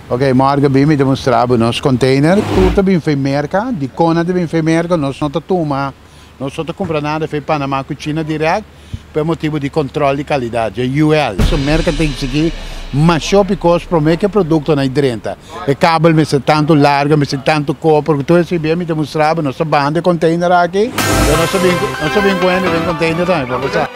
Ok, morgen bin mi demostrá bo nos container. Tur ta bin fei Merca. Di con a ta bin fei Merca? Nos no ta tuma, nos no ta cumpra nada fei Panama cu China direct pa e motibo di control di calidad, dje UL. So Merca ta exigí masho p'e cos prome cu e productonan e drenta. E cable mester tantu largo, mester tantu copper cu tur esei bien mi demostrá bo. Nos ta banda e container aki. Nos ta bin cu hende den container tambe pa pasá.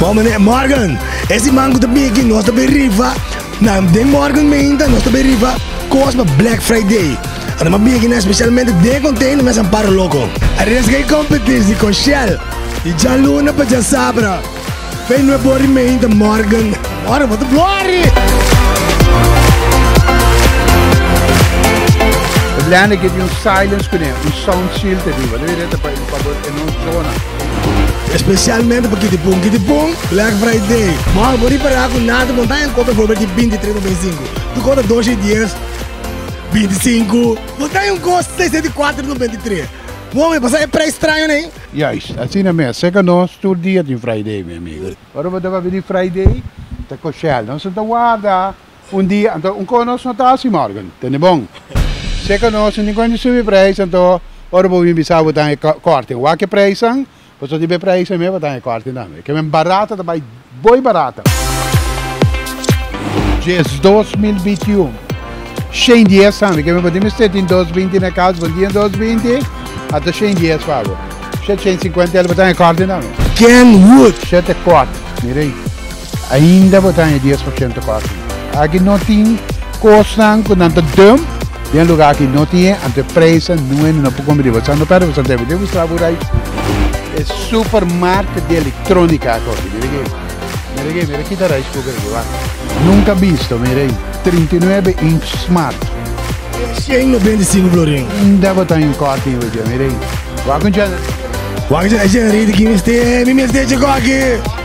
Bon meneer Morgan, es di man cu ta bigi nos ta bay rifa na den Morgan Meinta nos ta bay rifa cos pa Black Friday. Anto m'a bigi na especialmente den container mes amparo loco. Aresga e competis di con Shell di djaluna pa djasabra. Fey nue bori meinta Morgan. Morgan bo ta blori! Especialmente pa Kitty Pung. Kitty Pung, Black Friday. Mor, bo ripara cu nada bo ta encontra for beti bintitres no binsinco. Tu conta dos y dies, bintisinco. Bo ta un cos sesenta y cuatro no bintitres. Mor, mi pasa e prijs straño ney. Juist, asina mes. Seca nos tur dia tin Friday, mi amigo. Ora bo ta wak bini Friday, ta coshel. Nos no ta warda. Un dia, anto un konos no ta hasi morgen tende bon. Sea konos tin kuenti subi preis, anto ora bo bin bisa bo ta e korting. Wak e preisnan, bo ta tiba e preisnan mes pa ta e korting tambe. Ke men barato ta bai boy barato. Djes dos mil binti un, shen dies tambe, ke men bo tin mester tin dos binti na e kas, bo tin e dos binti, a ta shen dies pa bo. Shet shen sinkuenta el bo ta e korting tambe. Kenwood. Shet e korting, mira ei. Ainda bo ta haña dies por ciento cos aki. Aki no tin cosnan cu nan ta dump den lugar aki. No tin e anto e prijzen no e no por compra di bo. Esaki no ta riba Santiago. Debe busca bo rice e supermarket di electronica aki. Oke, mira aki. Mira aki, mira ki ta rice cooker aki. Wak. Nunca bisto, mira ahi. Trinta i nuebe inch smart. Cien no bindi cinco florin. Ainda bo ta haña un cos aki bo dje. Mira ahi. Wak un generator. Wak un generator aki. Mi mester un generator aki.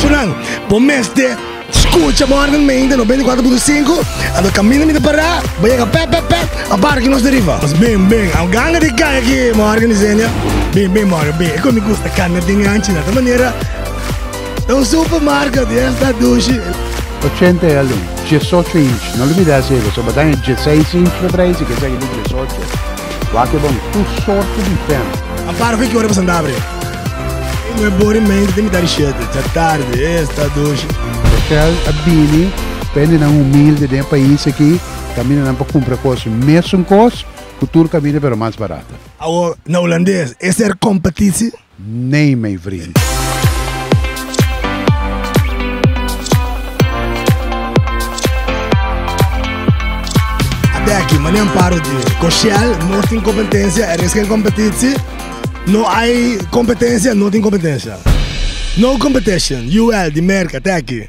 Sunan, bo mester skucha bo harnan mente, noventa i kuater punto sinku, ando kaminda mi ta pará, bo yega pèp pèp pèp, a barki nos ta riba. Mas bin bin, a ganga di kaya aki Morgan i Zenia. Bin bin Morgan bin, e kon mi gusta kanda tin anchi na ta manera ta un super marka di esta dushi. Ochenta e alin, diesocho inchi, no olbidá esei, pasobra bo ta haña dieseis inchi pa traha i si ke esaki ta diesocho. Wak ke bon tur sorto di fens. A para fue ki ora pasan da brea. Ei no e bori mente te mitad di shete ta tarde e esta doshi. Rochel a bini pa hende nan humilde den e pais aki kaminda nan pa kumpra kos mesun kos ku tur kaminda pero mas barato. Awor na Hulandes e ser kompetisi. Nee mei vriend. Abeki, mane amparo di Coshell no tin competencia, er is geen competitie. No ai competencia, no tin competencia. No competition, UL di Merca, teki.